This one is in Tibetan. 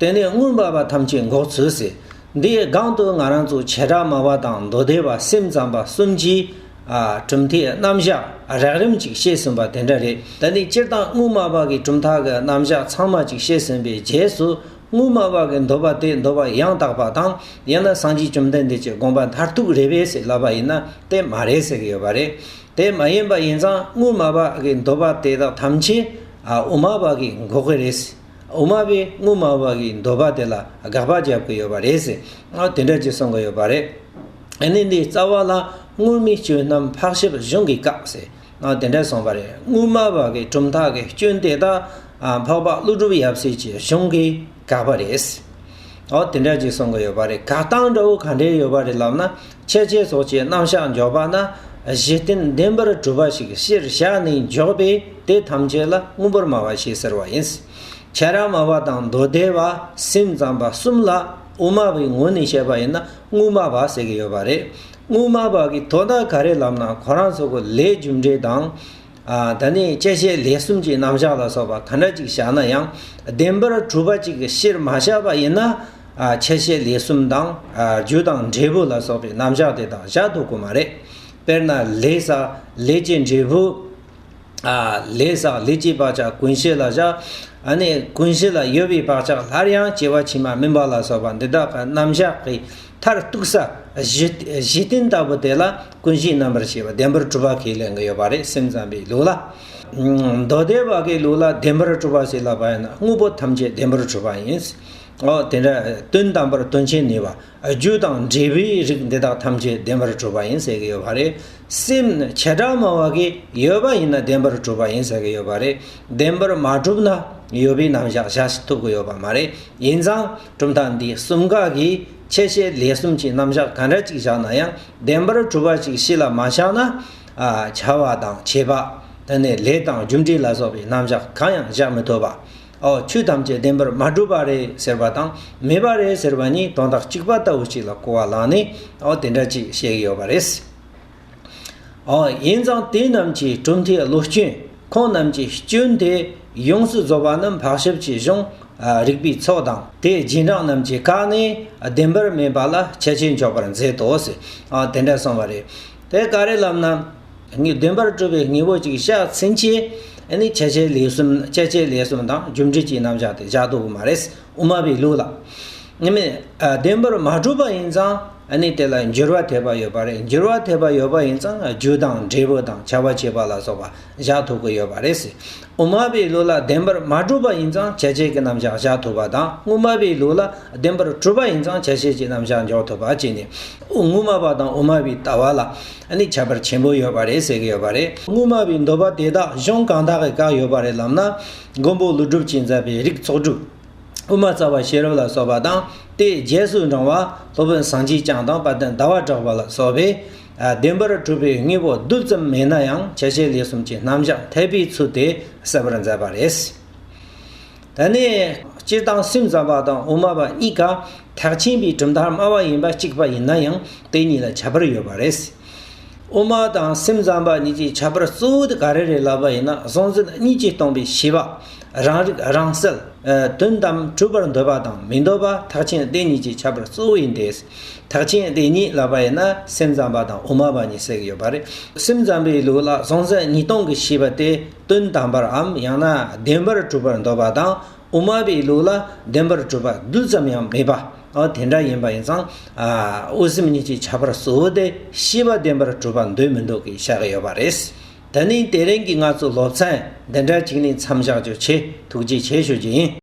དེ་ནས་སྔོན་འབར་བ་ཐམས་ཅད་འགོག་ཚུལ་གསལ། འདིའི་སྒང་དུ་ང་རང་ཚོ་བྱེ་བྲག་མ་བ་དང་མདོ་སྡེ་བ་སེམས་ཙམ་པ་གསུམ་གྱིས། གྲུབ་མཐའི་རྣམ་བཞག་རགས་རིམ་ཅིག་བཤད་ཟིན་པ་དེ་འདྲ་རེད། ད་ནི་སྤྱིར་བཏང་དངུལ་སྨྲ་བ་གི་གྲུབ་མཐའ་གི་རྣམ་བཞག་ཚང་མ་ཅིག་བཤད་ཟིན་པའི་རྗེས་སུ། དངུལ་སྨྲ་བ་གི་འདོད་པ་དེ་འདོད་པ་ཡང་དག་པ་དང་ཡང་ན་སངས་རྒྱས་བཅོམ་ལྡན་འདས་ཀྱི་དགོངས་པ་མཐར་ཐུག་རེད་བས་ཟེར་ལབ་པ་ཡིན་ན་དེ་མ་རེད་ཟེར་གྱི་ཡོད་པ་རེད། དེ་མ་ཡིན་པ་ཡིན་ཙང་དངུལ་སྨྲ་བ་གི་འདོད་པ་དེ་དག་ཐམས་ཅད་དབུ་མ་པ་གིས་འགོག་གི་རེད། འོ་མ་བས་སྔོ་མ་བ་གིས་འདོད་པ་དེ་ལ་དགག་པ་བརྒྱབ་ཀྱི་ཡོད་པ་རེད་ཟེར། ཨ་དེ་འདྲ་ཅིག་གསུང་གི་ཡོད་པ་རེད། གནས་འདིའི་རྩ་བ་ལ་དངོས་མིན་སྐྱོན་རྣམས་འཕགས་ཞབས་གཞུང་གིས་བཀག་ཟེར། ཨ་དེ་འདྲ་གསུང་བ་རེད་སྔོ་མ་བ་གི་གྲུབ་མཐའ་གི་སྐྱོན་དེ་དག་འཕགས་པ་ཀླུ་སྒྲུབ་ཡབ་སྲས་ཀྱི་གཞུང་གིས་བཀག་པ་རེད། ཨོ་དེ་འདྲ་ཅིག་གསུང་གི་ཡོད་པ་རེད་བཀག་སྟངས་འདྲ་བོ་ག་འདྲའི་ཡོད་པ་རེད་ལབ་ན། ཁྱད་བྱེད་སོགས་ཀྱི་རྣམ་གཞག་འཇོག་པ་ན་གཞི་རྟེན་བདེན་པར་གྲུབ་པ་ཞིག་གཞིར་བཞག་ནས་འཇོག་པས་དེ་ཐམས་ཅད་ལ་དངོས་པོར་སྨྲ་བ་ཞེས་ཟེར་བ་ཡིན། ཁྱད་རང་སྨྲ་བ་དང་མདོ་སྡེ་བ་སེམས་ཙམ་པ་གསུམ་ལ་དབུ་མ་པའི་ངོས་ནས་བཤད་པ་ཡིན་ན་དངོས་སྨྲ་བ་ཟེར་གྱི་ཡོད་པ་རེད། དངོས་སྨྲ་བ་གིས་དོ་བདག་ག་རེ་ལབ་ན་གོ་རང་ཚོ་གི་ལས་རྒྱུ་འབྲས་དང། ད་ནི་བཅད་བཤད་ལས་གསུམ་གྱི་རྣམ་གཞག་ལ་སོགས་པ་གང་འདྲ་ཅིག་བཞག་ན་ཡང་བདེན་པར་གྲུབ་པ་ཅིག་གཞིར་མ་བཞག་པ་ཡིན་ན། བཅད་བཤད་ལས་གསུམ་དང་རྒྱུ་དང་འབྲས་བུ་ལ་སོགས་པའི་རྣམ་གཞག་དེ་དག་བཞག་འདུག་གོ་མ་རེད། དཔེར་ན་ལས་བསགས་ལས་ཀྱི་འབྲས་བུ། ལས་བསགས་ལས་ཀྱི་བག་ཆགས་ཀུན་གཞི་ལ་བཞག། ཀུན་གཞི་ལ་ཡོད་པའི་བག་ཆགས་སླར་ཡང་སྐྱེ་བ་ཕྱི་མ་སྨིན་པ་ལ་སོགས་པ་འདི་དག་གི་རྣམ་གཞག་གི་མཐར་གཏུགས་ས་གཞི་རྟེན་ལྟ་བུ་དེ་ལ་ཀུན་གཞིའི་རྣམ་པར་ཤེས་པ་བདེན་པར་གྲུབ་པ་གྱིས་ལེན་གྱི་ཡོད་པ་རེད་སེམས་ཙམ་པའི་ལུགས་ལ། མདོ་སྡེ་བ་གའི་ལུགས་ལ་བདེན་པར་གྲུབ་པ་ཞེས་ལབ་པ་ཡིན་ན་དངོས་པོ་ཐམས་ཅད་བདེན་པར་གྲུབ་པ་ཡིན། འོ་དེ་འདྲ་དོན་དམ་པར་དོན་ཆེན་ནུས་པ་རྒྱུ་དང་འབྲས་བུའི་རིགས་འདི་དག་ཐམས་ཅད་བདེན་པར་གྲུབ་པ་ཡིན་ཟེར་གྱི་ཡོད་པ་རེད། སེམས་ནི་བྱེ་བྲག་མ་བ་གའི་ཡོད་པ་ཡིན་ན་བདེན་པར་གྲུབ་པ་ཡིན་ཟེར་གྱི་ཡོད་པ་རེད། བདེན་པར་མ་གྲུབ་ན་ཡོད་པའི་རྣམ་གཞག་བྱ་ཐུབ་ཀྱི་ཡོད་པ་མ་རེད། ཡིན་ཙང་གྲུབ་མཐའ་འདི་གསུམ་ག་གིས་ཁྱད་བྱེད་ལས་གསུམ་གྱི་རྣམ་གཞག་ག་འདྲ་ཅིག་བཞག་ན་ཡང། བདེན་པར་གྲུབ་པ་ཅིག་གཤིས་ལ་མ་ཆགས་ན། བྱ་བ་དང་བྱེད་པ་དེ་ནི་ལས་དང་རྒྱུ་འབྲས་ལ་སོགས་པའི་རྣམ་གཞག་གང་ཡང་གཞག་མི་ཐུབ་པའོ། ཆོས་ཐམས་ཅད་བདེན་པར་མ་གྲུབ་པ་རེད་ཟེར་བ་དང་མེད་པ་རེད་ཟེར་བ་གཉིས་དོན་དག་གཅིག་པ་ལྟ་བུ་ཅིག་ལ་གོ་བ་ལངས་ནས་དེ་འདྲ་ཅིག་བཤད་ཀྱི་ཡོད་པ་རེད། ཡིན་ཙང་དེ་རྣམས་ཀྱིས་གྲུབ་མཐའི་བློ་སྐྱོན། ཁོང་རྣམས་ཀྱི་སྐྱོན་དེ་ཡོངས་སུ་རྫོགས་པ་ནི་འཕགས་ཞབས་ཀྱི་གཞུང་རིག་པའི་ཚོགས་དང་དེའི་རྗེས་འབྲང་རྣམས་ཀྱིས་བཀག་ནས་བདེན་པར་སྨྲས་པ་ལ་ཁྱད་ཆོས་འཇོག་པར་མཛད་དོ། དེ་འདྲ་གསུངས་པ་རེད། དེ་ག་རེ་ལབ་ན། བདེན་པར་གྲུབ་པའི་དངོས་པོ་ཅིག་ཤ་ཚིལ་ཆེ། ཁྱད་ཆོས་ལས་གསུམ་དང་རྒྱུ་འབྲས་ཀྱི་རྣམ་གཞག་དེ་བཞག་ཏུ་མ་རེད། དབུ་མ་པའི་ལུགས་ལ། དབུ་མའི་བདེན་པར་མ་གྲུབ་པ་ཡིན་ཙང་ནི་དེ་ལ་འགྱུར་བ་ཐེབས་པ་ཡོད་པ་རེད་འགྱུར་བ་ཐེབས་པ་ཡོད་པ་ཡིན་ཙང་རྒྱུ་དང་འབྲས་བུ་དང་བྱ་བ་བྱེད་པ་ལ་སོགས་པ་བཞག་ཐུབ་ཀྱི་ཡོད་པ་རེད། དབུ་མ་པའི་ལུགས་ལ་བདེན་པར་མ་གྲུབ་པ་ཡིན་ཙང་བྱེད་བྱེད་ཀྱི་རྣམ་གཞག་བཞག་ཐུབ་པ་དང་དབུ་མ་པའི་ལུགས་ལ་བདེན་པར་གྲུབ་པ་ཡིན་ཙང་བྱེད་བྱེད་ཀྱི་རྣམ་གཞག་འཇོག་ཐུབ་པ་བཅས་ནི་དབུ་མ་པ་དང་དབུ་མ་པའི་ལྟ་བ་ལ་ནི་ཁྱད་པར་ཆེན་པོ་ཡོད་པ་རེད་ཟེར་གྱི་ཡོད་པ་རེད། དབུ་མ་པའི་འདོད་པ་དེ་དག་གཞུང་གང་དག་གིས་བཀག་ཡོད་པ་རེད་ལབ་ན། མགོན་པོ་ཀླུ་སྒྲུབ་ཀྱིས་མཛད་པའི་རིགས་ཚོགས་དྲུག། དབུ་མ་རྩ་བ་ཤེས་རབ་ལ་སོགས་པ་དང་དེའི་རྗེས་སུ་འབྲང་བ་སློབ་དཔོན་ཟངས་ཀྱི་སྤྱན་དང་དཔལ་ལྡན་ཟླ་བ་གྲགས་པ་ལ་སོགས་པས། བདེན་པར་གྲུབ་པའི་དངོས་པོ་རྡུལ་ཙམ་མེད་ན་ཡང་བྱ་བྱེད་ལས་གསུམ་གྱི་རྣམ་གཞག་འཐད་པའི་ཚུལ་དེ་གསལ་བར་མཛད་པ་རེད། ད་ནི་སྤྱིར་བཏང་སེམས་ཙམ་པ་དང་དབུ་མ་པ་གཉིས་ཀ་ཐག་ཆེན་པའི་གྲུབ་མཐའ་སྨྲ་བ་ཡིན་པ་གཅིག་པ་ཡིན་ན་ཡང་དེ་གཉིས་ལ་ཁྱད་པར་ཡོད་པ་རེད། དབུ་མ་དང་སེམས་ཙམ་པ་གཉིས་ཀྱི་ཁྱད་པར་གཙོ་བོ་དེ་ག་རེ་རེད་ལབ་པ་ཡིན་ན་གཟུང་འཛིན་གཉིས་ཀྱིས་སྟོང་པའི་ཤེས་པ། རང་རིག་རང་གསལ། དོན་དམ་གྲུབ་པར་འདོད་པ་དང་མི་འདོད་པ་ཐག་ཆེན་སྡེ་གཉིས་ཀྱི་ཁྱད་པར་གཙོ་བོ་ཡིན་ཏེ། ཐག་ཆེན་སྡེ་གཉིས་ལབ་པ་ཡིན་ན་སེམས་ཙམ་པ་དང་དབུ་མ་པ་གཉིས་བསྲེགས་ཡོད་པ་རེད། སེམས་ཙམ་པའི་ལུགས་ལ་གཟུང་འཛིན་གཉིས་སྟོང་གི་ཤེས་པ་དེ་དོན་དམ་པར་འམ་ཡང་ན་བདེན་པར་གྲུབ་པར་འདོད་པ་དང། དབུ་མ་པའི་ལུགས་ལ་བདེན་པར་གྲུབ་པ་རྡུལ་ཙམ་ཡང་མེད་པ་དེ་འདྲ་ཡིན་པ་ཡིན་ཙང། དབུ་སེམས་གཉིས་ཀྱི་ཁྱད་པར་གཙོ་བོ་དེ་ཤེས་པ་བདེན་པར་གྲུབ་པ་འདོད་མི་འདོད་ཀྱི་བྱ་དགའ་ཡོད་པ་རེད། ད་ནི་དེ་རིང་གི་ང་ཚོའི་སློབ་ཚན་འདི་འདྲ་གཅིག་ནས་མཚམས་བཞག་རྒྱུ་ཆེད་ཐུགས་རྗེ་ཆེ་ཞུ་རྒྱུ་ཡིན།